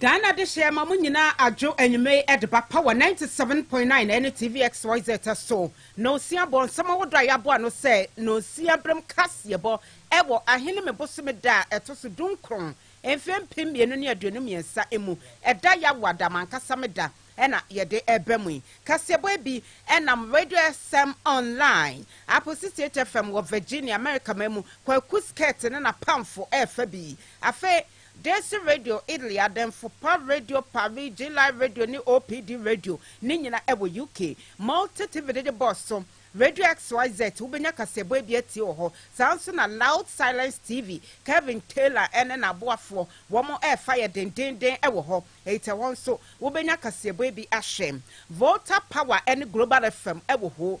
Ghana dehyeɛ ma mo nyinaa adwo anwummerɛ yi de ba Power 97.9 ɛne TVXYZ so. Nonsia bɔ nsɛm ahodoɔ a yɛabɔ ano sɛ Nonsia Berem Kaseɛbɔ wɔ Aheneme bosome da a ɛto so dunkron, mfeɛ mpem mmienu ne aduonu mmiɛnsa mu. Ɛda Yawoada, m'ankasa me da, na yɛde reba mu yi. Kaseɛbɔ yi bi nam Radio SM Online, Apple 68 FM wɔ Virginia, Amerika man mu, Kwaku Skirt ne n'apamfo refa bi. Afei. Desi Radio, Italy, Ademfo Pa Radio, Paris, G-Live Radio ne OPD Radio, ne nyina ɛwɔ UK. Multi TV dede bɔs so, Radio XYZ, wobɛnya kaseɛbɔ ebi atie wɔ hɔ. Saa nso na Loud Silence TV, Kevin Taylor ne n'aboafoɔ, wɔn ɛɛfa yɛ dendeenden wɔ hɔ. Eit ɛhɔ nso wobɛnya kaseɛbɔ ebi ahwɛ. Volta Power ne Global FM wɔ hoo.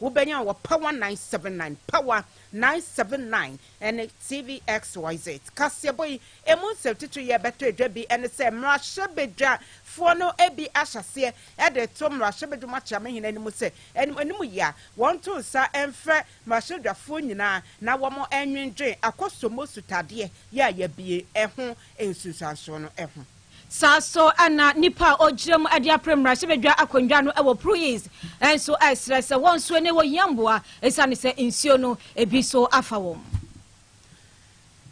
Wobɛnya a wɔ Power nine seven nine, Power nine seven nine, ne TV XYZ. Kaseɛbɔ yi mu nsɛntitiriw yi a ɛbɛtɔ adwa bi ne sɛ mmarahyɛbadwafoɔ no bi ahyɛ aseɛ de reto mmarahyɛbadwa mu akyerɛ amahene anim sɛ anim anim yi a wɔnto nsa mfrɛ mmarahyɛbadwafoɔ nyinaa na wɔnnwendwen akɔsombo sutadeɛ yi a yɛabue ho nsunsuansoɔ no ho. Saa ara nso na nnipa a wɔgyina mu de apere mmarahyɛbadwa akonnwa no wɔ Pruis nso resrɛ sɛ wɔn nso na wɔhia mmoa esiane sɛ nsuo no ebi nso afa wɔn.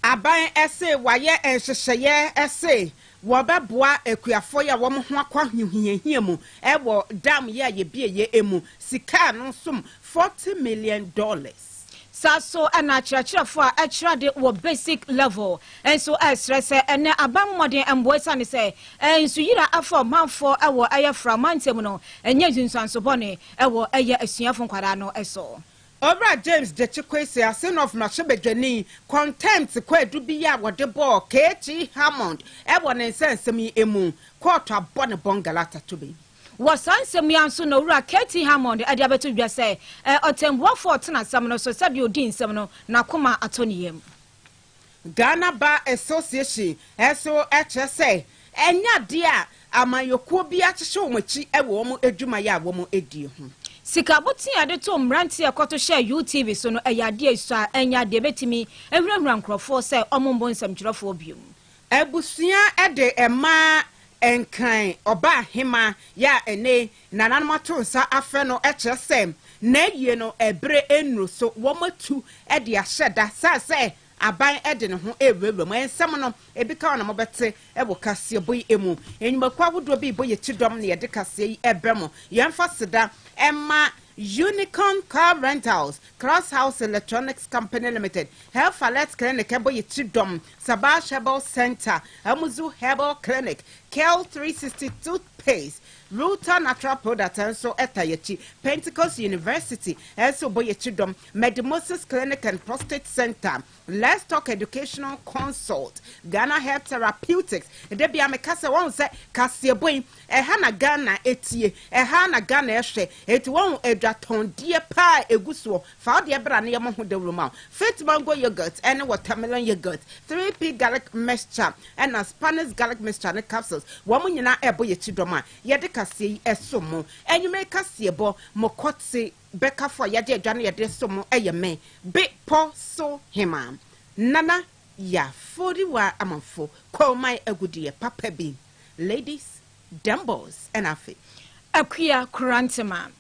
Aban se wɔayɛ nhyehyɛeɛ se wɔbɛboa akuafoɔ yi a wɔn ho akɔ ahohiahia mu wɔ dam yi a yɛbieɛ mu. Sika a ano som forty million dollars. Saa so na akyerɛkyerɛfo a ɛkyerɛ ade wɔ basic level nso srɛ sɛ ɛnnɛ aban mu mmɔden mmoa esiane sɛ nsuyira afa ɔmanfo wɔ ɛyɛ fra mantam no nyɛ nsunsuanso bɔne wɔ ɛyɛ asuafo nkwadaa no so. Owura James Gyekye Quacy, Asenof mmarahyɛbadwani, contempt kwaadu bi a wɔde bɔɔ KT Hammond wɔ ne nsɛnsɛm yi mu kɔɔto abɔ ne bɔn galata tobe. Wɔ saa nsɛm yi ara nso na Owura KT. Hammond de abɛto dwa sɛ, Ɛɛ, ɔtɛnbuafo a ɔtena asɛm no so, sɛdeɛ ɔdi nsɛm no, n'akoma atɔ ne yam. Ghana Bar Association nso kyerɛ sɛ, ɛnyɛ adeɛ a amanyɔkuo bi akyekye wɔn akyi wɔ wɔn adwumayɛ a wɔdi ho. Sika botee a yɛde too mmeranteɛ a ɛkɔto hyɛɛ UTV so no, ɛyɛ adeɛ a esua, ɛnyɛ adeɛ a ɛbɛtumi ahurahura nkurɔfoɔ sɛ wɔmmɔ nsɛmtwerɛfoɔ bio. Abusua de ɛma Nkran Ɔbahema yi a ɛne nananom ato nsa afrɛ no kyerɛ sɛ n'ayie no ɛbere nnuru so, wɔatu de ahyɛ da sane sɛ aban de ne ho rewurawura mu. Nsɛm no bi ka na mobɛte wɔ kaseɛbɔ yi mu. Nnwumakuo ahodoɔ bi rebɔ yɛn ti dɔm na yɛde kaseɛ yi rebrɛ mo. Yɛmfa aseda mma Unicorn Car Rentals, Class House Electronics Company Limited, Health Alert Clinic ɛbɔ yɛn ti dɔm Sabash Herbal Center, Amuzu Herbal Clinic, Kel three hundred and sixty Toothpaste, Ruta Natural Products nso ta yɛn akyi. Pentecost University nso bɔ yɛn akyi dɔm. Medimosis Clinic and Prostate Center, Let's Talk Educational Consult, Ghana Herbs Therapeutics. Da biara meka sɛ, woahu sɛ kaseɛbɔ yi, ɛha na Ghana tie, ɛha na Ghana hwɛ. Enti woahu adwatɔndeɛ pa a ɛgu soɔ Fa wo deɛ bra na yɛmmɔ ho dawuro ma wo. Fit mango yoghurt ne watermelon yoghurt, 3P garlic mixture ɛna Spanish garlic mixture ne capsules, wɔn nyinaa ɛrebɔ yɛn kyidɔm a yɛde kaseɛ yi ɛsom mo. Anwummerɛ yi kaseɛbɔ, mo kɔte bɛkafo a yɛagye adwa no yɛde som mo ɛyɛ me, Be pɔ so hemaa, Nana Yaforiwa Amanfo Koman Agudeɛ papa bi, Ladies Dɛm boss ɛna afei. Akua Koranteman.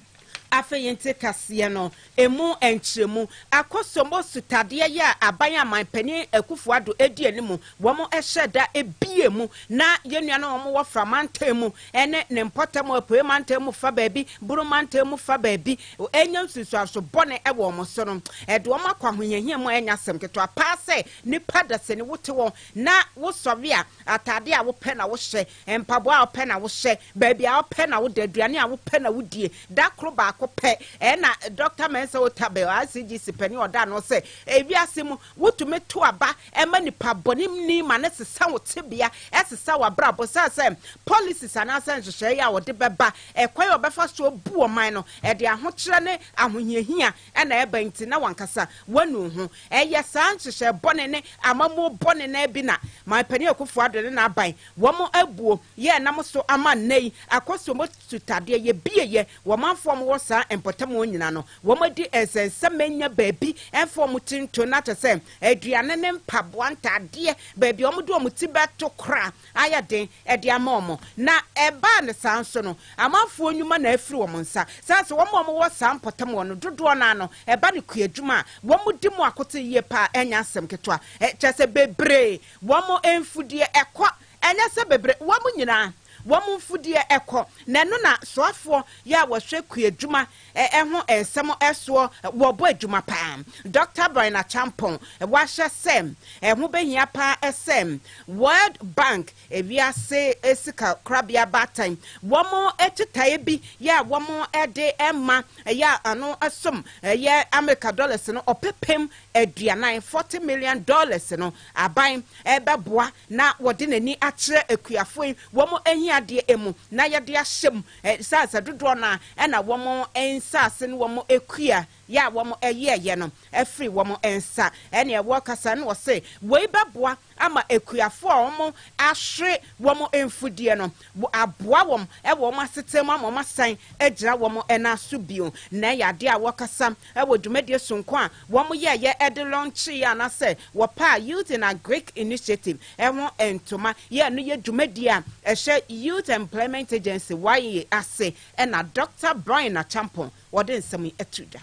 Afei yɛnte kaseɛ no ɛmu nkyerɛmu. Akosombo sutadeɛ yɛ a aban a manpanin Akuffo Addo ɛdi animu wɔn ɛhyɛ da ɛbie mu na yɛn nuanom a wɔn wɔ Fra mantam mu ɛne ne mpɔtam Apueɛ mantam mu fa baabi, Buru mantam mu fa baabi ɛnya nsunsuanso bɔne wɔ wɔn so no ɛde wɔn akɔ ahohiahia mu a ɛnyɛ asɛm ketewa paa sɛ nipa dasani wote hɔ na wo sɔre a ataadeɛ a wopɛ na wo hyɛ Mpaboa a wopɛ na wohyɛ, baabi a wopɛ na woda, aduane a wopɛ na wodie. Da koro baako pɛ. Ɛna Dɔkta Mensah Otabil, RCGC panin a ɔda ano sɛ, Ewiase mu, wotumi to aba ma nipa bɔne ni ma no sesa wo tebea, ɛsesa w'abrabɔ. Esiane sɛ policies anaasɛ nhyehyɛe a wɔde bɛba, ɛkwan a wɔbɛfa so abu ɔman no, ɛde ahokyerɛ ne ahohiahia Ɛna ɛba nti na wankasa wanu ho. Ɛyɛ saa nhyehyɛɛ bɔne ne amammuo bɔne no ara bi na Man Panin Akuffo Addo ne n'aban wɔn abuo yɛ nam so ama nnɛ yi akɔsom sutadeɛ yɛbieɛ wɔ manfoɔ a wɔwɔ saa mpɔtam hɔ nyina no wɔn adi nsɛnsɛm manya baabi mfa wɔn ti nto na kyɛ sɛ aduane ne mpaboa ntaadeɛ baabi a wɔde wɔn ti bɛto koraa ayɛ den de ama wɔn, na ɛbaa no saa nso no, amanfoɔ nnwuma na afiri wɔn nsa, sane sɛ wɔn a wɔwɔ saa mpɔtam hɔ no dodoɔ no ara no, ɛba no kuadwuma a, wɔdi mu akoten yie pa ara, ɛnyɛ asɛm ketewa, kyerɛ sɛ, bebree, wɔn mfudeɛ kɔ, ɛnyɛ sɛ bebree, wɔn nyinaa, wɔn mfudeɛ kɔ, na ɛno na soafoɔ yɛ a wɔhwɛ kuadwuma Ɛho nsɛm soɔ wɔbɔ adwuma pa ara. Dɔkta Brian Acheampong wahyɛ sɛ ɛho bɛhia pa ara sɛ World Bank, Wiase Sika Korabea Baatan, wɔn kyetaeɛ bi yɛ a wɔde ma yɛ a ano som yɛ Amerika dɔlɛs no ɔpepem aduanan, forty million dollars, no aban bɛboa na wɔde n'ani akyerɛ akuafoɔ yi wɔn ahiadeɛ mu na yɛde ahyɛ mu Nsaase dodoɔ no ara na wɔn nsaase ne wɔn kua yɛ a wɔyɛɛyɛ no firi wɔn nsa. Ɛnna ɛwɔ kasa no ɔse, Wei bɛboa ama akuafoɔ a wɔahwere wɔn mfudeɛ no aboa wɔn wɔ wɔn asetena mu ama wɔasan agyina wɔn nan so bio. Nnɛ yɛ adeɛ a wɔkasa wɔ dwumadie sononko a wɔyɛeɛ de lɔnkyeeɛ anaasɛ wɔpaa Youth in Agric Initiative ho ntoma yɛ ɛno yɛ dwumadie a ɛhyɛ Youth Employment Agency, YEA, ase na Dɔkta Brian Acheampong ɔde nsɛm yi to dwa.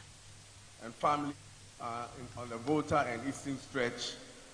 and family are in on the Volta and Eastern Stretch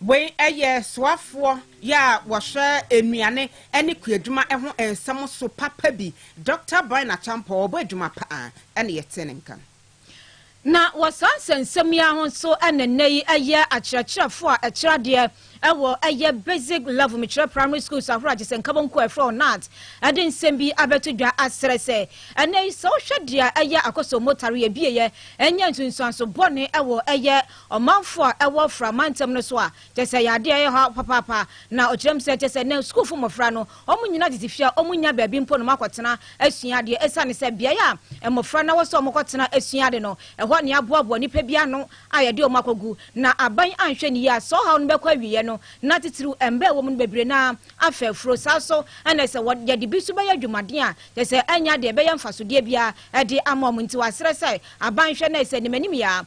Wei yɛ soafoɔ yɛ a wɔhwɛ nnuane ne kuadwuma ho nsɛm so papa bi, Doctor Brian Acheampong, ɔbɔ adwuma pa ara na yɛtee ne nka no. Na wɔ saa nsɛnsɛm yi ara ho nso na nnɛ yi yɛ akyerɛkyerɛfoɔ a ɛkyerɛ adeɛ wɔ yɛ basic level mekyerɛ primary schools ahoroɔ a gye sɛ Nkabɔnkuo a yɛfrɛ wɔn NAAT de nsɛm bi abɛto dwa asrɛ sɛ ɛnnɛ yi sɛ wohwɛ deɛ ɛyɛ Akosombo tare yɛbieɛ ɛnyɛ nsunsuanso bɔne wɔ yɛ ɔmanfo a ɛwɔ Fra mantam no so a kyerɛ sɛ ɛyɛ ade a ɛyɛ ɔhaw papaapa. Na ɔkyerɛ mu sɛ kyerɛ sɛ nnɛ sukuufo mmofra no wɔnnyina tete fie a wɔnnya baabi mpo na wɔakɔtena asua ade esiane sɛ beae a mmofra no wɔ sɛ wɔkɔtena sua ade no, ɛhɔ na yɛaboaboa nnipa bi ano a yɛde wɔn akɔgu. Na aban anhwɛ no yie a saa ɔhaw no bɛkɔ awieɛ no, na titiriw mma a ɛwɔ mu no bebree no ara afɛ afuro. Saa ara nso na sɛ yɛde bi nso bɛyɛ adwumaden a kyerɛ sɛ ɛnyɛ ade a ɛbɛyɛ mfasodeɛ biara de ama wɔn. Nti wɔasrɛ sɛ aban nhwɛ na sɛ animanimyɛ a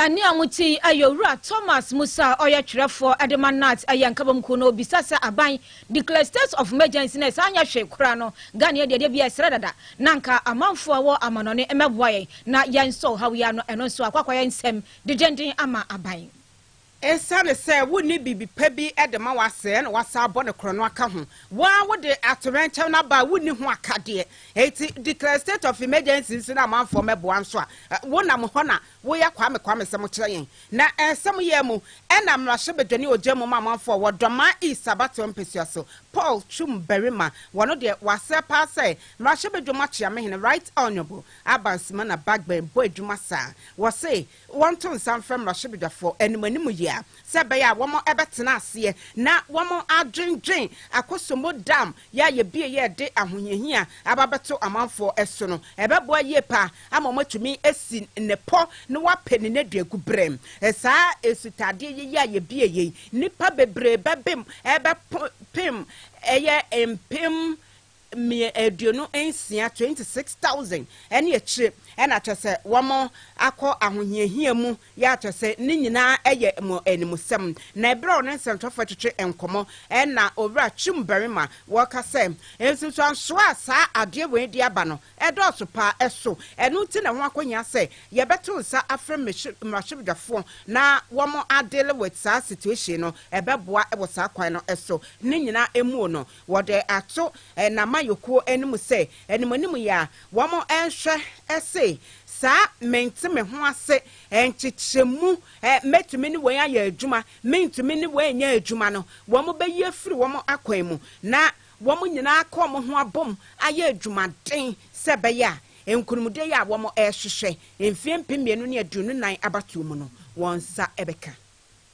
Ɛnne a wɔte yi yɛ Owura Thomas Musa a ɔyɛ twerɛfoɔ de ma NAADS yɛn nkabom kuo no. Ɔbisa sɛ aban declare state of emergency na ɛsan nyɛ hwee koraa no, Ghanaiɛ deɛ ɛdeɛ biara ɛsrɛ dada na anka amanfoɔ a ɛwɔ amanɔne mmɛboa yɛn na yɛnsɔ ɔhaw yi ano. Ɛno nso akɔ akɔyɛ nsɛm dendenden ama aban. Esiane sɛ wunni biribi pa bi de ma w'ase na woasan abɔ no korɔno aka ho. Wo ara wode atoyerɛnkyɛm no aba a wunni ho akadeɛ. Enti declare a state of emergency nso na amanfoɔ mmɛboa nso a, wonam hɔ na woyɛ kwame kwame sɛ mokyerɛ yɛn. Na sɛ moyɛɛ mu na mmarahyɛbadwa ne ɔgya mu ma amanfoɔ a wɔdɔ ma East abatoɔ mpasua so. Paul Twum Barima, wɔno deɛ wasrɛ paa sɛ mmarahyɛbadwam akyeamehene Right Honourable Abba Nsimana Bagbin bɔ adwuma saa. Wɔse wɔnto nsa mfrɛ mmarahyɛbadwafoɔ anim anim yi a, sɛ ɛbɛyɛ a wɔn bɛtena aseɛ na wɔn adwendwen Akosombo Dam yɛ a yɛbie yɛ de ahohiahia aba abɛto amanfoɔ so no, ɛbɛboa yie paa ama wɔn atumi asi ne pɔ na wɔapɛ ne nneduagu berɛ. Saa asutadeɛ yɛ yi a yɛbie yei, nnipa bebree bɛbem ɛbɛpem ɛyɛ mpem mmea aduonu nsia, twenty six thousand, ne akyire na kyerɛ sɛ wɔn akɔ ahohiahia mu yɛ a kyerɛ sɛ ne nyinaa yɛ mo animusɛm. Na ɛberɛ a ɔne nsɛntwerɛfoɔ twetwe nkɔmmɔ na owura Chum Barima wɔka sɛ nsunsuansoɔ a saa adeɛ wei de aba no ɛdɔɔso paa ɛso ɛno nti na ɛho akɔhia sɛ yɛbɛto nsa afrɛ mmarahyɛbadwafoɔ na wɔn adeal with saa situation no ɛbɛboa wɔ saa kwan no so ne nyinaa muo no Wɔde ato n'amayɔkuo anim sɛ animanim yɛ a wɔnhwɛ se saa mente me ho ase nkyekyɛmu mɛtumi ne wei ayɛ adwuma, mentumi ne wei nyɛ adwuma no, wɔbɛyi afiri wɔn akwan mu na wɔn nyinaa aka wɔn ho abom ayɛ adwumaden sɛ ɛbɛyɛ a nkunimdie yi a wɔrehwehwɛ mfeɛ mpem mmienu ne aduonu nan abatoɔ mu no wɔn nsa bɛka.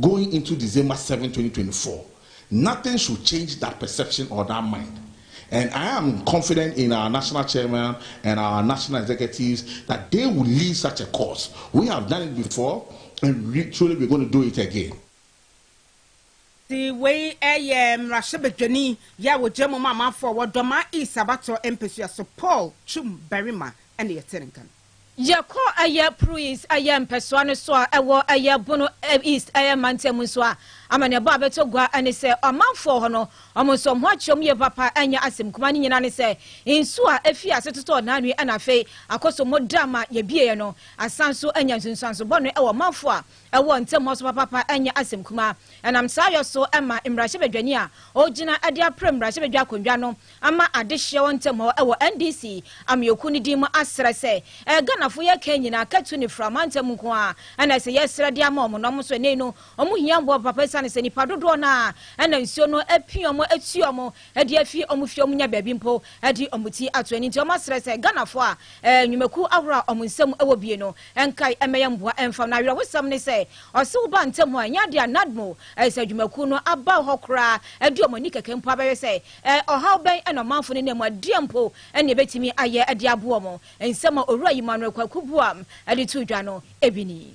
Going into December seven, twenty twenty four, nothing should change that perception or that mind and I am confident in our National Chairman and our National Executives that they will lead such a cause. We have done it before and we truly we're going to do it again. Ti wei yɛ mmarahyɛbadwani yɛ a wɔgyina mu ma amanfoɔ wɔ Dɔmaa East abatoɔ mpɛsua so Paul Twum Barima na yɛte ne nka no. Yɛkɔɔ ɛyɛ Pruis ɛyɛ mpɛsoa no so a ɛwɔ ɛyɛ Bono East ɛyɛ mantam nso a, amanneɛbɔ a ɛbɛtɔ gua ne sɛ ɔmanfoɔ hɔ no, wɔn nso wɔn ho akyerɛ wɔn yie papa. Ɛnyɛ asɛm kumaa ne nyinaa ne sɛ nsuo a efii ase totɔɔ Nanwi na afei akɔ so mu da ma yɛbieɛ no asan nso anya nsunsuanso bɔne wɔ ɔmanfoɔ a Ɛwɔ ntamu so papaapa ɛnyɛ asɛm kumaa. Ɛnam saa yɔ so ɛma mmarahyɛbadwani a ɔgyina de apere mmarahyɛbadwa akonnwa no ama adehyeɛ wɔ ntamu hɔ ɛwɔ NDC ameɔkuo no din mu asrɛ sɛ ɛɛ Ghanafoɔ yɛ kan nyinaa katu ne fra mantam nko ara ɛna ɛsɛ yɛsrɛ de ama wɔn na wɔn nso ɛnɛ yi no wɔn hia mmoa papaapa ɛsiane sɛ nipa dodoɔ no ara ɛna nsuo no apia wɔn atu wɔn de afi wɔn fie, wɔnya baabi mpo de wɔn ti ato ani. Nti wɔasrɛ sɛ Ghanafoɔ a nnwumakuo ahoroɔ a wɔn nsam wɔ bie no nkae mmɛyɛ mmoa mfa wɔn. Na awerɛhosɛm ne sɛ, ɔsew ba ntɛm a, ɛnyɛ adeɛ a NADMO sɛ adwumakuo no aba hɔ koraa de wɔn ani kɛkɛ mpo abɛhwɛ sɛ ɔhaw bɛn na ɔmanfo no nam mu a deɛn mpo na ɛbɛtumi ayɛ de aboa wɔn. Nsɛm a Owura Emmanuel Kwaku Boam de too dwa no, ebi ni.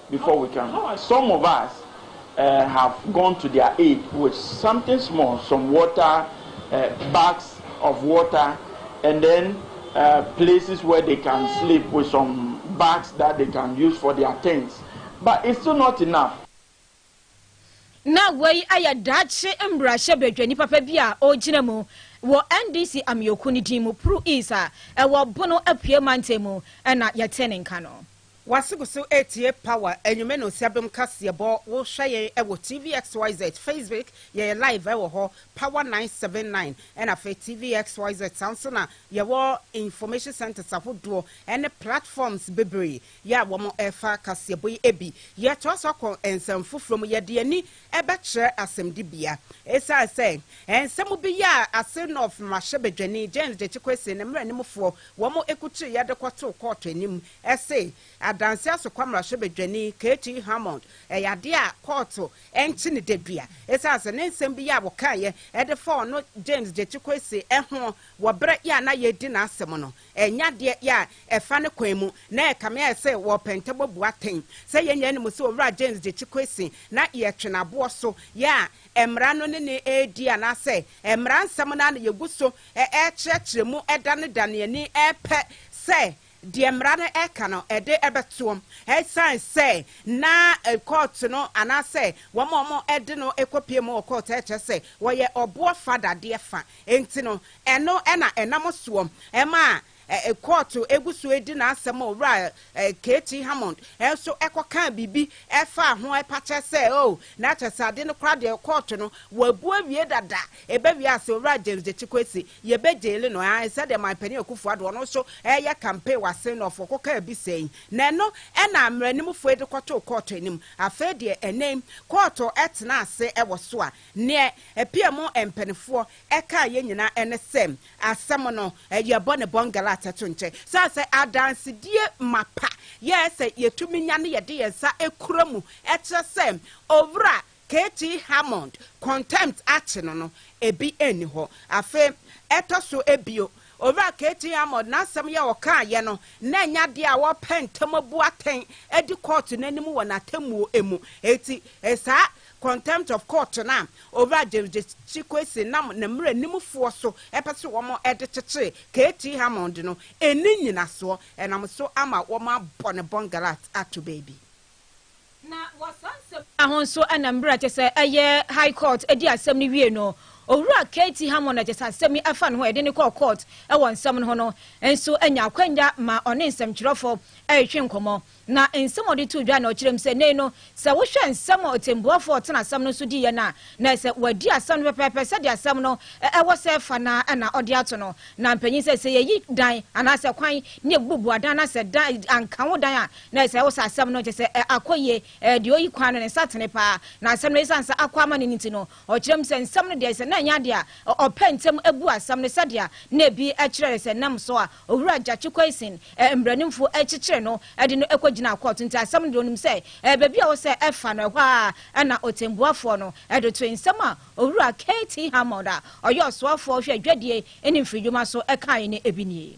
before we can some of us eh, have gone to their aid with something small some water eh, bags of water and then eh, places where they can sleep with some bags that they can use for their tents but it's still not enough na wei ayɛ daakye mmarahyɛ badwani papa bi a ɔgyina mu wɔ ndc ameɔku no din mu pru east a ɛwɔ bono apue mantam mu ɛna yɛte ne nka no W'asegoso etie power enyume no siadom kaseɛbɔ wo hwɛ yɛn ɛwɔ tvxyz facebook yɛyɛ live ɛwɔ hɔ power nine seven nine ɛna afei tvxyz saa nso na yɛwɔ information centres ahodoɔ ɛne platforms bebree yɛ a wɔn ɛfa kaseɛbɔ yi ebi yɛtoa so akɔ nsɛm foforɔ mu yɛde ani ɛbɛkyerɛ asɛmdi bea ɛsiane sɛ nsɛm bi yɛ a ase nɔf mmarahyɛbadwani James Gyekye Kwesi ne mmaranim foɔ wɔn ɛkukyire yɛde kɔtoo kɔɔto anim se adanse asokwa mmarahyɛbadwani KT Hammond yɛ adeɛ a kɔɔto nkye no dadua esiane sɛ ne nsɛm bi a wɔkaeɛ de fa ɔno James Gyekye Kwesi ho wɔ berɛ a na yɛredi n'asɛm no nyɛ adeɛ a ɛfa ne kwan mu na ɛkame ayɛ sɛ wɔrepɛ ntɛbɔ bu atɛn. Sɛ yɛn nyinaa nim sɛ Owura James Gyekye Kwesi na yɛtwe n'aboɔ so yɛ a mmara no ne no redi anaasɛ mmara nsɛm no ara na yɛgu so rekyerɛkyerɛ mu da no da no ani pɛ sɛ deɛ mmara no ka no de bɛtoam ɛsiane sɛ na kɔɔto no anaasɛ wɔn a wɔde no kɔpue mu wɔ kɔɔto ɛkyerɛ sɛ wɔyɛ ɔboɔ fa dadeɛ fa nti no ɛno na ɛnam soɔ ma kɔɔto gu so di n'asɛm ma owura KT Hammond nso kɔkaa biribi faa ho ɛpa kyɛ sɛ o na kyɛ sɛ ade no koraa deɛ kɔɔto no wɔabu awie dada ɛbɛwie a sɛ owura James Gyekye Kwesi Yɛbɛ jaili no ae sɛdeɛ man panin Akufo Addo ɔno nso reyɛ campaign wɔ asen North fɔ kɔkaa bi sɛi na ɛno na mmaranimfo fo yi de kɔtoo kɔɔto anim afei deɛ ɛnɛ yi kɔɔto tena ase wɔ so a neɛ apm mpanifoɔ kaa yɛ nyinaa ɛne sɛ asɛm no yɛbɔ ne bɔngala atɛto nkyɛ sane sɛ adansedie mapa yɛ sɛ yɛtumi nya ne yɛde yɛn nsa kura mu kyerɛ sɛ owura KT Hammond contempt akye no no, ebi nni hɔ. Afei, ɛtɔ so bio, Owura KT Hammond n'asɛm yi a ɔkaeɛ no, na ɛnyɛ adeɛ a wɔpɛ ntɛm abu atɛn adi kɔɔto no anim wɔ n'atemmuo mu. Enti, saa contempt of court no a Owura James Gyekye Quayson nam ne mmaranimfoɔ so pɛ sɛ wɔde kyekyere KT Hammond no, ɛnni nnyinasoɔ. Ɛnam so ama wɔabɔ no bɔngalat ato baabi. Na wɔ saa nsɛm nyinaa ho nso na mmerɛ a ɛkyɛ sɛ ɛyɛ High Court di asɛm no wie no, Owura KT. Hammond a ɛkyɛ sɛ asɛm yi fa ne ho a yɛde no kɔɔ Court wɔ nsɛm no ho no nso nya akwanya ma ɔne nsɛmtwerɛfo retwe nkɔmmɔ. Na nsɛm a ɔde too dwa na ɔkyerɛ mu sɛ nnɛ yi no sɛ wohwɛ nsɛm a ɔtɛmbuafoɔ a ɔtena asɛm no so diiɛ no a, na ɛyɛ sɛ wadi asɛm no pɛpɛɛpɛ sɛdeɛ asɛm no wɔ sɛ fa no ara na ɔde ato no. Na mpanyin sɛ, sɛ yɛyi dan anaasɛ kwan ne yɛbubu adan anaasɛ dan anka ho dan a, Na sɛ wosa asɛm no kyerɛ sɛ akɔ yie, deɛ ɔyi kwan no ne nsa tene paa. Na asɛm no ɛsiane sɛ akɔ amane no nti no, ɔkyerɛ mu sɛ nsɛm no deɛ sɛ na ɛnyɛ adeɛ a ɔpɛ ntɛm bu asɛm no sɛdeɛ na ebi kyerɛɛ sɛ nam so a Owura Gyakye Quayson mmaranimfo kyekyere no de no kɔgyinaa kɔɔto nti asɛm no deɛ ɔnim sɛ baabi a ɛwɔ sɛ ɛfa no ɛhɔ ara na ɔtɛmbuafoɔ no de toe nsɛm a Owura KT Hammond a ɔyɛ ɔsoafoɔ hwɛ adwadie ne mfiridwuma so kaeɛ no bi nie.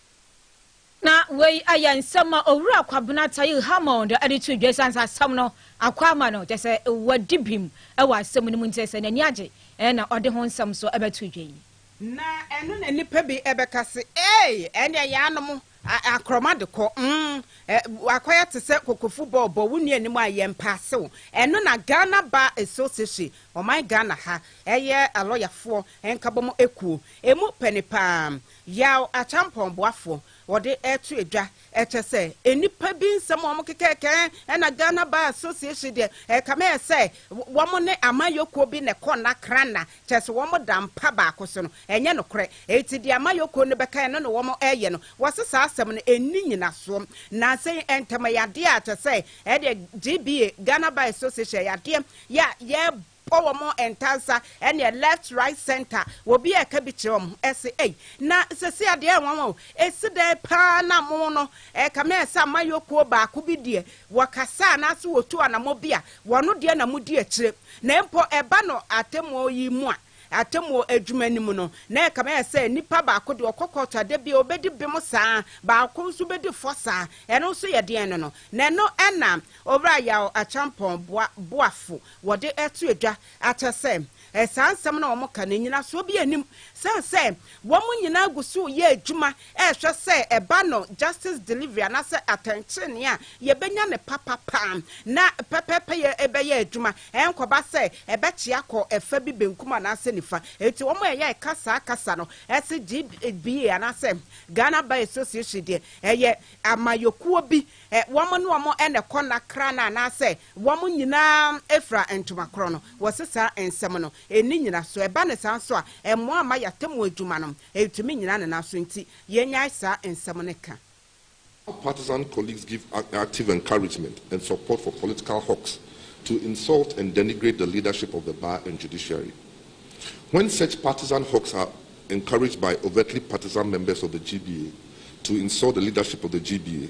Na wei yɛ nsɛm a Owura Kwabena Taye Hammond de too dwa esiane sɛ asɛm no akɔ ama no, kyerɛ sɛ wadi bem wɔ asɛm no mu nti, sɛ n'ani agye na ɔde ho nsɛm nso bɛto dwa yi. Na ɛno na nnipa bi bɛka se, Ei! Ɛnneɛ yɛanom akorɔma de kɔ. Mm, woakɔyɛ te sɛ kokofu bɔ, bɔ wo nua anim a yɛmpaase wo. Ɛno na Ghana Bar Association, ɔman Ghana ha, ɛyɛ alɔyafoɔ nkabɔmu ekuo, emu pɛ ne pa ara. Yaw akyampɔn boafoɔ wɔde reto edwa kyɛ sɛ nnipa bi nsɛm a wɔkeka kɛkɛɛ ɛna Ghana Bar Association deɛ ɛkame yɛ sɛ wɔn ne amayɔkuo bi na ɛkɔ nna kranna kyɛ sɛ wɔn da mpa baako so no ɛnyɛ nokorɛ enti deɛ amayɔkuo no bɛka ɛno na wɔn ɛyɛ no wɔse saa asɛm no ɛnni nyinasoɔ nansa yi ɛntɛm ɛyɛ adeɛ a kyɛ sɛ ɛdeɛ GBA Ghana Bar Association ɛyɛ adeɛ yɛ a yɛ kɔ wɔn ntansa ɛneɛ left right center obi ɛka bi kyerɛ wɔn ɛse ei na sɛsei adeɛ ayɛ nwanwa o esi dɛn paa na mo no ɛkame ayɛ sɛ amayɔkuo baako bi deɛ wɔkasa anaase wɔtu anamɔ bi a wɔn deɛ na modi akyire na mpo ɛba no atemmuo yi mu a atemmuo adwuma no mu no na ɛkame ayɛ sɛ nipa baako deɛ ɔkɔ kɔɔto adeɛ bi a ɔbɛdi bem saa baako nso bɛdi fɔ saa ɛno nso yɛ deɛn no no na ɛno ɛna Owura Yaw Akyampɔn boa boafo wɔde to dwa akyɛ sɛ saa nsɛm no a wɔka no, nnyinasoɔ biara nnim, sane sɛ wɔn nyinaa gu so reyɛ adwuma rehwɛ sɛ ɛba no justice delivery anaasɛ atɛntenenee a yɛbɛnya no papapa na pɛpɛɛpɛ yɛbɛyɛ adwuma, ɛnkɔba sɛ ɛbɛkyea kɔ ɛfa bi benkum anaasɛ nifa. Enti wɔn a ɛyɛ ɛka saa kasa no se GBA anaasɛ Ghana Bar Association deɛ ɛyɛ amayɔkuo bi, wɔn ne wɔn na ɛkɔ nna kra no anaasɛ Wɔn nyinaa fira ntoma korɔ no. Wɔse saa nsɛm no nni nyinasoɔ. Ɛba no saa nso a, ɛmmoa mma yɛn atemmuo adwuma no ntumi nnyina ne nan so. Enti yɛnnyae saa nsɛm no ka. Our partisan colleagues give active encouragement and support for political hawks to insult and denigrate the leadership of the Bar and Judiciary. When such partisan hawks are encouraged by overtly partisan members of the GBA to insult the leadership of the GBA,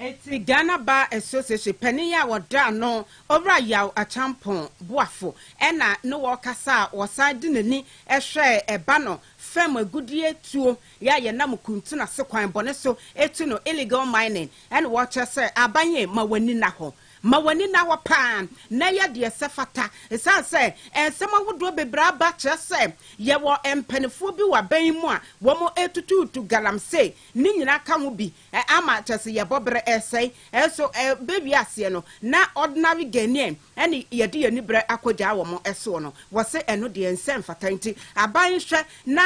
Etse Ghana Bar Association panyin a wɔda no Owura Yaw Acheampong Boafo na ne wɔ kasa a wɔsan de n'ani hwɛɛ ɛba no fam agudie tuo yɛ a yɛnam kuntun ase kwan bɔne so tu no, illegal mining, ɛna wɔkyerɛ sɛ aban yɛ ma w'ani nna hɔ, ma w'ani nna hɔ paa na yɛ deɛ sɛ fata ɛsiane sɛ nsɛm ahodoɔ bebree aba kyerɛ sɛ yɛwɔ mpanifoɔ bi wɔ aban yi mu a wɔn tutuutu galamsey ne nyinaa ka ho bi Ɛ ama kyɛ se yɛbɔ berɛ resɛe. Ɛ so ɛ bɛ wiaseɛ no, na ordinary Ghanaian ɛne yɛde yɛn ani berɛ akɔgyaa wɔn soɔ no, wɔ se ɛno deɛ nsɛ mfata nti aban nhwɛ na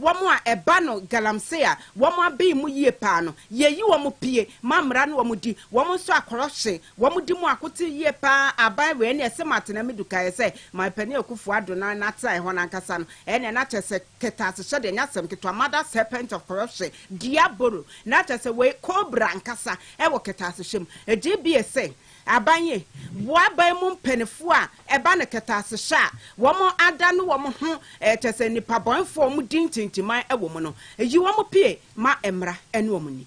wɔn a ɛba no galamsey a wɔn aben mu yie paa no, yɛyi wɔn pie ma mmara ne wɔn di, wɔn nso a corruption wɔn di mu akote yie paa aban wei ɛneɛ se matena me du kaeɛ sɛ my panin Akuffo Addo na na tena hɔ no ankasa no ɛneɛ na kyɛ sɛ kɛtɛasehyɛdeɛ nyɛ asɛm ketewa mother serpent of corruption Diabolo, na kyerɛ sɛ wei cobra ankasa wɔ kɛtɛasehyɛ mu. Ɛgye bie sɛ aban yi boa aban mu mpaninfoɔ a ɛba no kɛtɛasehyɛ a wɔn ada no wɔn ho kyerɛ sɛ nnipa bɔnefoɔ a wɔn di ntintiman wɔ mu no, yi wɔn pie ma mmra ne wɔn ni.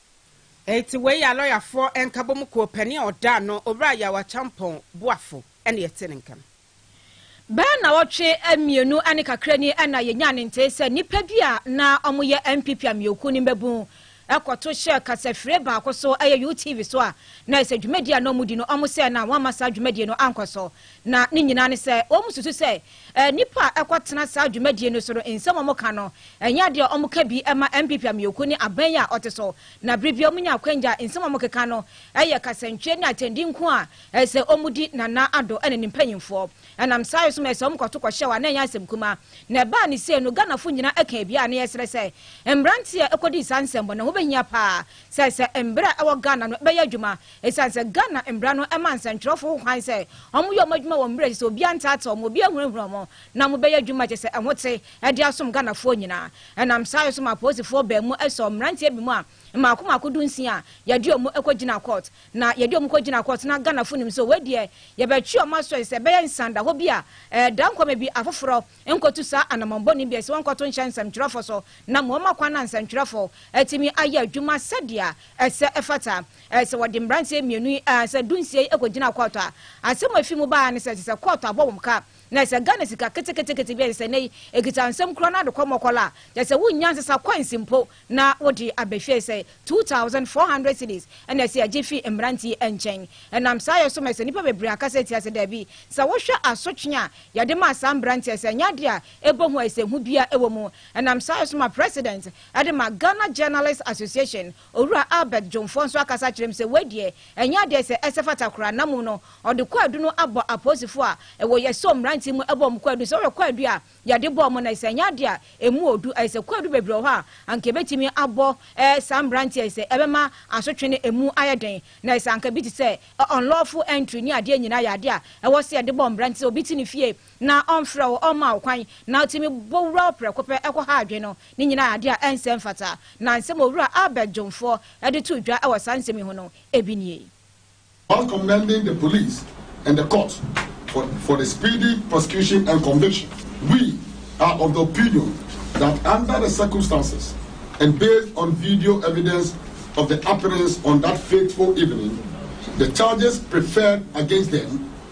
Enti wei a lɔyafoɔ nkabom kuo panin a ɔda ano, Owura Yaw Akyampong Boafo na yɛte ne nka no. Bɛyɛ nnawɔtwe mmienu ne kakra ni na yɛnyaa ne ntee sɛ nnipa bi a na wɔyɛ NPP amanyɔkuo no mmabun kɔto hyɛɛ kasafire baako so, ɛyɛ UTV so a na ayɛ sɛ dwumadie a na wɔdi no, wɔn sɛ na wɔamma saa dwumadie no ankɔ so. Na ne nyinaa ne sɛ wɔsusu sɛ Nnipa a ɛkɔtena saa dwumadie no so no, nsɛm a wɔka no, ɛnyɛ adeɛ a wɔka bi ma NPP amanyɔkuo ne aban yi a ɔte so. Na berɛ biara wɔnya akwanya a, nsɛm a wɔkeka no yɛ kasantwie ne atɛnde nko a ɛsɛ wɔdi Nana Addo ne ne mpanimfoɔ. Ɛnam saa yɛ so ma ɛsɛ wɔkɔto kɔhyɛ wɔ a na ɛnyɛ asɛm kumaa. Na ɛbaa no sei no, Ghanafoɔ nyinaa kaa bi a na yɛsrɛ sɛ mmeranteɛ a ɛkɔdii saa nsɛmmɔne ho bɛhia pa ara sɛ sɛ mberɛ a ɛwɔ Ghana no bɛyɛ adwuma Esiane sɛ Ghana mmara no ma nsɛnkyerɛwfo ho kwan sɛ wɔyɛ wɔn adwuma wɔ mmere a ɛsɛ sɛ obiara ntaata wɔn, obiara nhunahuna wɔn, na wɔbɛyɛ adwuma a ɛkyerɛ sɛ ɛho te de asom Ghanafoɔ nyinaa. Ɛnam saa yɛ so maa apolisifoɔ baa mu sɔɔ mmeranteɛ binom a mmaako mmaako dunsia a yɛde wɔn kɔgyinaa kɔɔt. Na yɛde wɔn kɔgyinaa kɔɔt na Ghanafo nim sɛ wei deɛ yɛbɛtwe wɔn aso ɛsɛ sɛ ɛbɛyɛ nsandahɔ bi a ɛda nkwa ma bi afoforɔ nkɔtu saa anammɔn bɔne bi a ɛsɛ sɛ wɔnkɔto nhyɛ nsɛmtwerɛfoɔ so na ama wɔama kwan na nsɛntwerɛfoɔ atumi ayɛ adwuma sɛdeɛ ɛsɛ ɛfata. Ɛ, sɛ wɔde mmeranteɛ mmienu yi, ɛ, sɛ dunsia yi kɔgyinaa kɔɔto a, asɛm a ɛfiri mu baeɛ ara ne sɛ, ɛsɛ sɛ kɔɔto abɔ wɔn ka. Na ɛsɛ sɛ Ghana sika keteketekete bi a ɛsɛ sɛ nnɛ yi ɛkita nsam kura no ara de kɔ mmɔkɔla a kyerɛ sɛ wonnya nsesa coins mpo na wode aba fie. Ɛsɛ sɛ two thousand four hundred cedis na ɛsɛ yɛgye fi mmerante yi nkyɛn. Ɛnam saa yɛ so ma ɛsɛ nnipa bebree aka sɛ atia sɛ dabi, sɛ wohwɛ asotwe a yɛde maa saa mmeranteɛ yi sɛ ɛnyɛ adeɛ a ɛbɔ hu a ɛsɛ hu biara wɔ mu. Ɛnam saa yɛ so ma President de ma Ghana Journalists Association Owura Albert Dwomfoɔ nso akasa akyerɛ mu sɛ wei deɛ ɛnyɛ adeɛ sɛ ɛsɛ fata koraa na mmom no ɔde kwaadu no abɔ apolisifoɔ a ɛwɔ Yɛsom mmranteɛ mu ɛbɔ wɔn kwaadu sɛ wohwɛ kwaadu a yɛde bɔɔ wɔn no ɛsɛ ɛnyɛ adeɛ a ɛmu ɔdu ɛyɛ sɛ kwaadu bebree wɔ hɔ a anka ɛbɛtumi abɔ saa mmranteɛ ɛyɛ sɛ ɛbɛma asotwe no ɛmu ayɛ den na ɛyɛ sɛ anka bi te sɛ unlawful entry ne adeɛ nyinaa yɛ adeɛ a ɛwɔ sɛ yɛde bɔ mmranteɛ sɛ obi te ne fie na ɔmfrɛ wo, ɔmma wo kwan, na otumi bɔ wura wo prɛko pɛ kɔ ha adwene no, ne nyinaa yɛ ade a ɛnsɛ mfata. Na nsɛm a Owura Albert Dwomfoɔ de too dwa wɔ saa nsɛm yi ho no, ebi nie. Whilst commending the police and the court for for the speedy prosecution and conviction, we are of the opinion that under the circumstances and based on video evidence of the happenings on that fateful evening, the charges preferred against them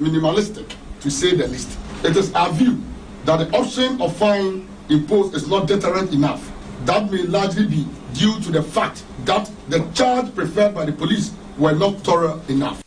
minimalistic to say the least. It is our view that the option of fine imposed is not deterrent enough. That may largely be due to the fact that the charge preferred by the police were not thorough enough.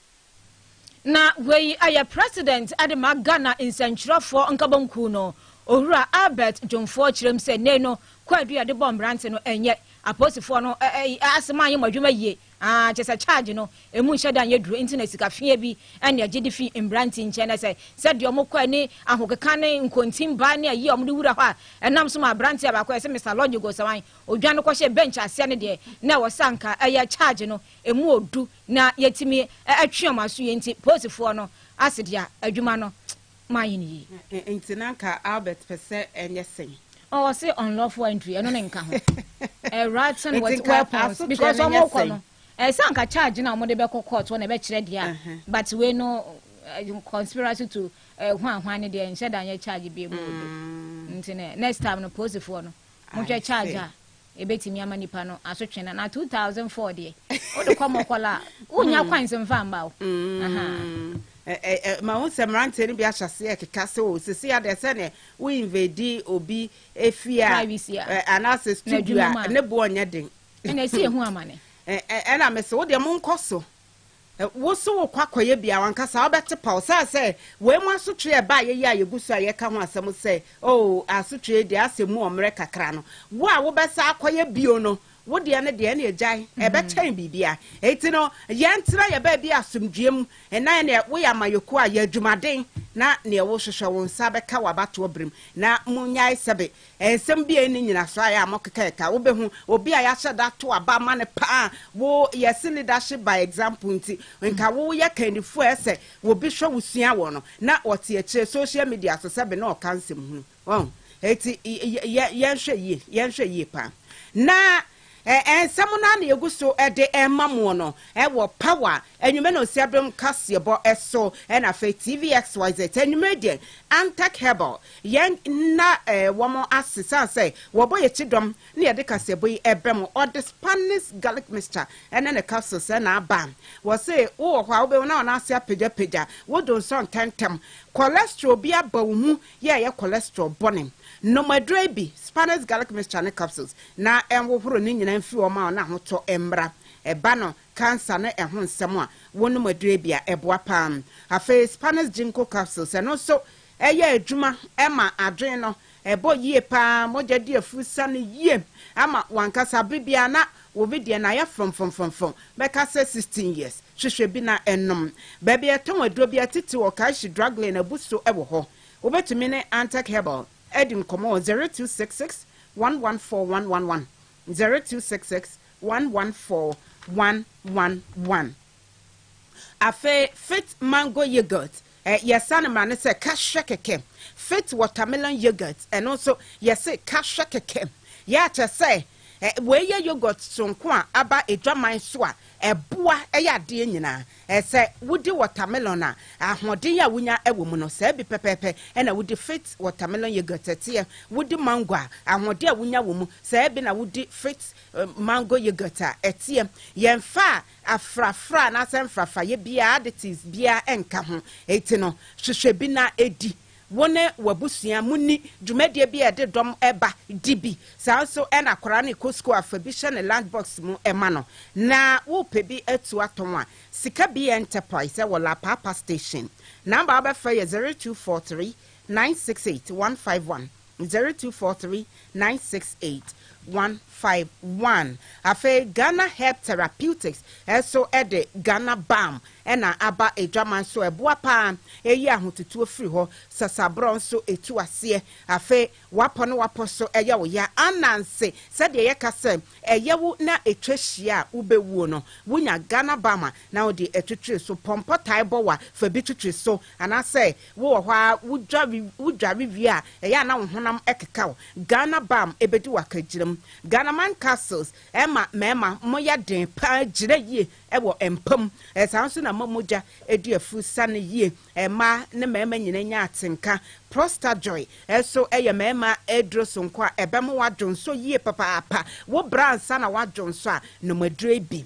Na wei ayɛ President de ma Ghana nsɛntwerɛfoɔ nkabom kuw no, Owura Albert Dwomfoɔ kyerɛm sɛ nnɛyi no kwaadu yɛde bɔ mmerante no ɛnyɛ apolisifoɔ no asɛm anyɛ mo adwuma yie. Aah kyesɛ charge no emu nhyɛ da nyɛ duro nti na sika fea bi ɛne ɛgye de fi mbrante nkyɛn na sɛ sɛ deɛ ɔmo kɔ ɛne ahokeka ne nkontin ba ne ayie a ɔmo de wura hɔ a ɛnam so ma abranteɛ baako yɛse Mister Lodge Gosawan odwane kɔ hyɛ bench aseɛ no deɛ na ɛwɔ sɛ anka ɛyɛ charge no emu odu na yɛtumi ɛtwe ɔmo aso yie nti polisifoɔ no ase deɛ adwuma no Mayɛ no yie. Ɛ nti na nka Albert pɛ sɛ ɛnyɛ sɛn? Ɔ ɔse unlawful entry, ɛno ne nka ho. Ɛ writing Nti with nka weapons, asoteɛ no because nyɛ ɔmo kɔ sɛn? no, ɛɛ sɛ anka charge no a ɔmo de bɛkɔ court hɔ na ɛbɛkyerɛ deɛ a, Ɛhɛ. but wei no, ɛ conspiracy to ɛ hwanhwan no deɛ, nhyɛ da nyɛ charge biam wɔ bi. Mm. Nti no, next time no, polisifoɔ no, motwɛ charge a ebetumi ama nipa no asotwe na na two thousand four deɛ wode kɔ mɔkɔla a wonya hmm. kwan sɛ mfa mma wo. Hmm. ma ho sɛ mmeranteɛ no bi ahyɛ aseɛ keka sɛ o sisi adeɛ sɛ ne wo invade obi efi a anaasɛ studio a ne boɔ nyɛ den. ɛna esi ehu amane. ɛna mesi wo deɛ mo nkɔ so. Wo se wokɔ akɔyɛ bi a, w'ankasa wobɛte paw. Saa sɛ, wei mu asotwe a ɛbaeɛ yi a yɛgu so a yɛreka ho asɛm sɛ, Oh, asotwe yi deɛ asɛ mu wɔ mmerɛ kakra no, wo a wobɛsan akɔyɛ bio no, wo deɛ no deɛ, ɛnneɛ gyae. Ɛbɛkyɛn biribiara. Enti no, yɛntena yɛn baabi asomdwoeɛ mu, na ɛnneɛ woyɛ amanyɔkuo a, yɛ adwumaden, na deɛ wohwehwɛ wo nsa bɛka wɔ abatoɔ berɛ mu. Na monnyae sɛbe Nsɛm bi a ɛnni nyinasoɔ a yɛ a mo keka yɛ taa. Wo bɛ hu obi a yɛahyɛ da ato aba ama no paa. Wo yɛ se leadership by example nti nka wo wo yɛ kandifoɔ a ɛyɛ sɛ obi hwɛ wo sua wɔ no na ɔte akyire social media so sɛbe na ɔka nsɛm hunu. Wahu? Eti yɛ yɛ yɛnhwɛ yie yɛnhwɛ yie paa na Ɛɛ, nsɛm no ara na yegu so de rema mo no wɔ Power anwummere no nsia dom kaseɛbɔ so, ɛna afei TVXYZ anwummere deɛ Antac Herbal yɛn na wɔn ase sane sɛ wɔbɔ yɛn akyi dɔm na yɛde kaseɛbɔ yi ɛbɛ mo. Ɔde Spanish Garlic Mixture ɛne ne capsules ɛna aba. Wɔse wowɔ hɔ a wobɛhu na wɔn ase apagyapagya, wodonsɔ ntɛntɛm, cholesterol bi aba wo mu yɛ a ɛyɛ cholesterol bɔne. Nom aduro yi bi, Spanish garlic mixture ne capsules, na ɛnhohoro ne nyinaa mfiri hɔ ma wo na ahotɔ mmra. Ɛba no cancer ne ɛho nsɛm a, wonom aduro yi bi a, ɛboa pa ara. Afei Spanish ginkgo capsules, ɛno nso ɛyɛ adwuma ma adwene no, ɛbɔ yie pa ara, mogya di afurusa no yie ama w'ankasa. Bere biara na Wo me deɛ na ayɛ frɔmfrɔmfrɔmfrɔm bɛka sɛ sixteen years hwehwɛ bi na ɛnom Baabi a yɛtɔn aduro biara titiriw wɔ Karshi drug lane abu so wɔ hɔ Wobɛtumi ne Antec Herbal adi nkɔmmɔ wɔ zero two six six one one four one one one zero two six six one one four one one one. Afei Fit Mango Yoghurt, eh, yɛsane ma no sɛ ka hwɛ kɛkɛ. Fit Watermelon Yoghurt, ɛno nso, yɛse ka hwɛ kɛkɛ. Yɛ a kyerɛ sɛ, eh, wei yɛ yoghurt soronko a aba adwaman so a ɛboa yɛ adeɛ nyinaa. Eh, sɛ wodi watermelon a, ahoɔden a wonya wɔ mu no, saa bi pɛpɛɛpɛ na wodi Fit Watermelon Yoghurt teɛ. Wodi mango a, ahoɔden a wonya wɔ mu, saa bi na wodi Fit Mango Yoghurt a ɛteɛ. Yɛmfa a Afrafra anaasɛ mfrafrayɛ biara, additives biara nka ho. Enti no, hwehwɛ bi na di. Wo ne w'abusua munni dwumadie bi a ɛde dɔm ba, di bi. Saa ara nso na akwadaa no rekɔ sukuu a, fa bi hyɛ ne lunch box mu ma no. Na worepɛ bi atu atɔn a, sika bi yɛ Enterprise wɔ Lapaapa Station. Number a wobɛfrɛ yɛ zero two four three nine six eight one five one Zero two four three nine six eight one five one Afei Ghana Herb Therapeutics nso de Ghana Balm na aba adwaman so a ɛboa pa ara, ɛyi ahotutuo firi hɔ, sasaborɔ nso tu aseɛ. Afei wapɔ ne wapɔ so ɛyɛ wo ya, ananse, sɛdeɛ yɛka sɛ ɛyɛ wo na ɛtwa hyia a wobɛwuo no, wonya Ghana Balm a na wode twitwiri so. Pɔmpɔ tae bɔ wo a, fa bi twitwiri so anaasɛ Wowɔ hɔ ara wodware wodware wie a ɛyɛ a na wo honam keka wo. Ghana balm bɛdi wo akagyinam. Ghanaman capsules ɛma mmarima moya den pa ara gyina yie wɔ mpa mu. Saa ara nso na ɛma mogya di afuru sane yie. Mmaa ne mmarima nyinaa nya atenka. Prostajoy nso yɛ mmarima aduro sononko a ɛbɛma w'adwonsɔ yie papaapa. Wobrɛ ansa na w'adwonsɔ a, nom aduro yi bi.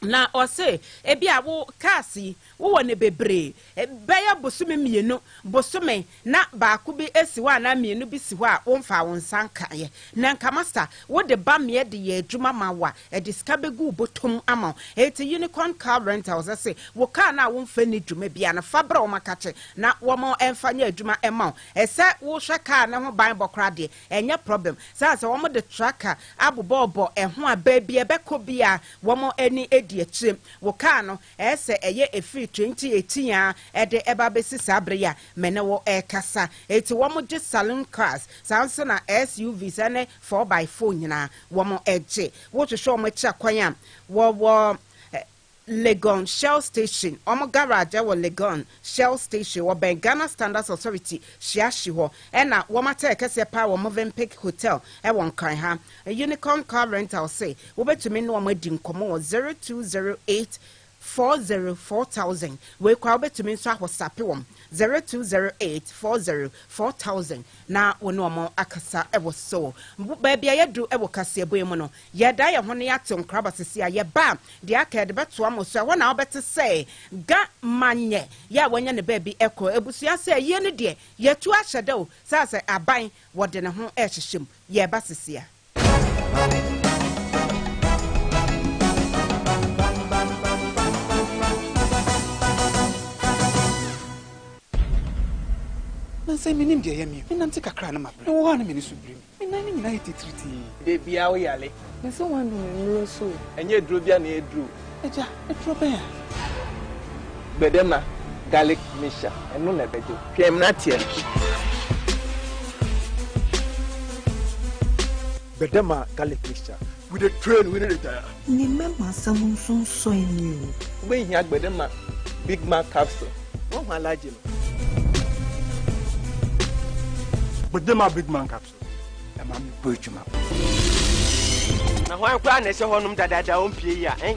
Na ɔse, ebia wo cars yi wowɔ no bebree, bɛyɛ bosome mmienu, bosome na baako bi si hɔ anaa mmienu bi si hɔ a womfaa wo nsa nkaeɛ. Na nka masta wode ba meɛ de yɛ adwuma ma wo a, ɛde sika bɛgu wo bɔtɔm ama wo. Enti Unicorn Car Rentals se, wo car no a womfa nni dwuma biara no, fa brɛ wɔn makakye na wɔmfa nyɛ adwuma mma wo. Sɛ wohwɛ car no ho ban bɔ koraa deɛ, Ɛnyɛ problem saa sɛ wɔn de traka abobɔɔbɔ ɛho a baabi a ɛbɛkɔ biara wɔn ani di akyire. Wo car no ɛyɛ sɛ ɛyɛ ɛfiri 2018 ara ɛde ɛba abɛsi saa bere yi a me ne wo ɛrekasa. Enti wɔn gye saloon cars saa nso na SUVs ɛne four by four nyinaa wɔn gye. Wo hwehwɛ wɔn akyiri kwan a wɔwɔ Legon Shell Station, Wɔn garage ɛwɔ Legon Shell Station, wɔbɛn Ghana Standards Authority hyia hye hɔ, ɛna wɔn atɛɛ kɛseɛ paa wɔ Movenpick Hotel ɛwɔ Nkran ha. Unicorn Car Rental se wobɛtumi ne wɔn adi nkɔmɔ wɔ zero two zero eight four zero four thousand. Wei koraa wobɛtumi nso ahɔsape wɔn zero two zero eight four zero four thousand na wo ne wɔn akasa ɛwɔ so. Baabi a yɛadu ɛwɔ kaseɛbɔ yi mu no, Yɛda yɛ ho na yɛate nkra ba sisi a yɛba a deɛ aka yɛde bɛtoa mo so ɛhɔ na wobɛte sɛ ga ma nyɛ yɛ a wanya ne baabi kɔ abusua sɛ ayie no deɛ yɛtu ahyɛ da o saa sɛ aban wɔde ne ho ɛrehyehyɛ mu yɛba sisi a. Nansa yi menim deɛ ɛyɛ me o menante kakra a na mabrɛ mewɔ hɔ a na m'ani so biri me. Me nan no nyinaa yɛ titiritii. Dabiaa wo yale. Me se w'anu me mmuro so o. Ɛnyɛ aduro bia na ɛduro o. Agya, aduro bɛn a. Gbɛdɛma garlic mixture ɛno na ɛbɛgye wo. Hwɛ mmena teɛ no. Gbɛdɛma garlic mixture. We dey train, we no dey tire. Ne mmam asɛm nso nsɔ ani o. Wobɛhia agbede ma Big Mac capsule. Woahu Alhaji no? Agbede ma Big Mac capsule. Ɛma mekɔ adwuma. Na hwan koraa na ɛhyɛ hɔnom dadaada a ɔmpue yi a ɛn?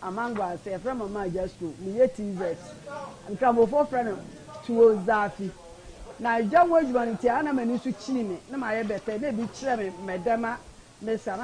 Amangwa ase, yɛfrɛ me Ɔmaa Agya Sukuu, meyɛ TZ. Nkramofoɔ frɛ no Tuo Zaafi. Na gya ho adwuma no nti, a na m'ani so kyini me, na mayɛ bɛtɛ, na ebi kyerɛ me mɛdɛma, mesa, na.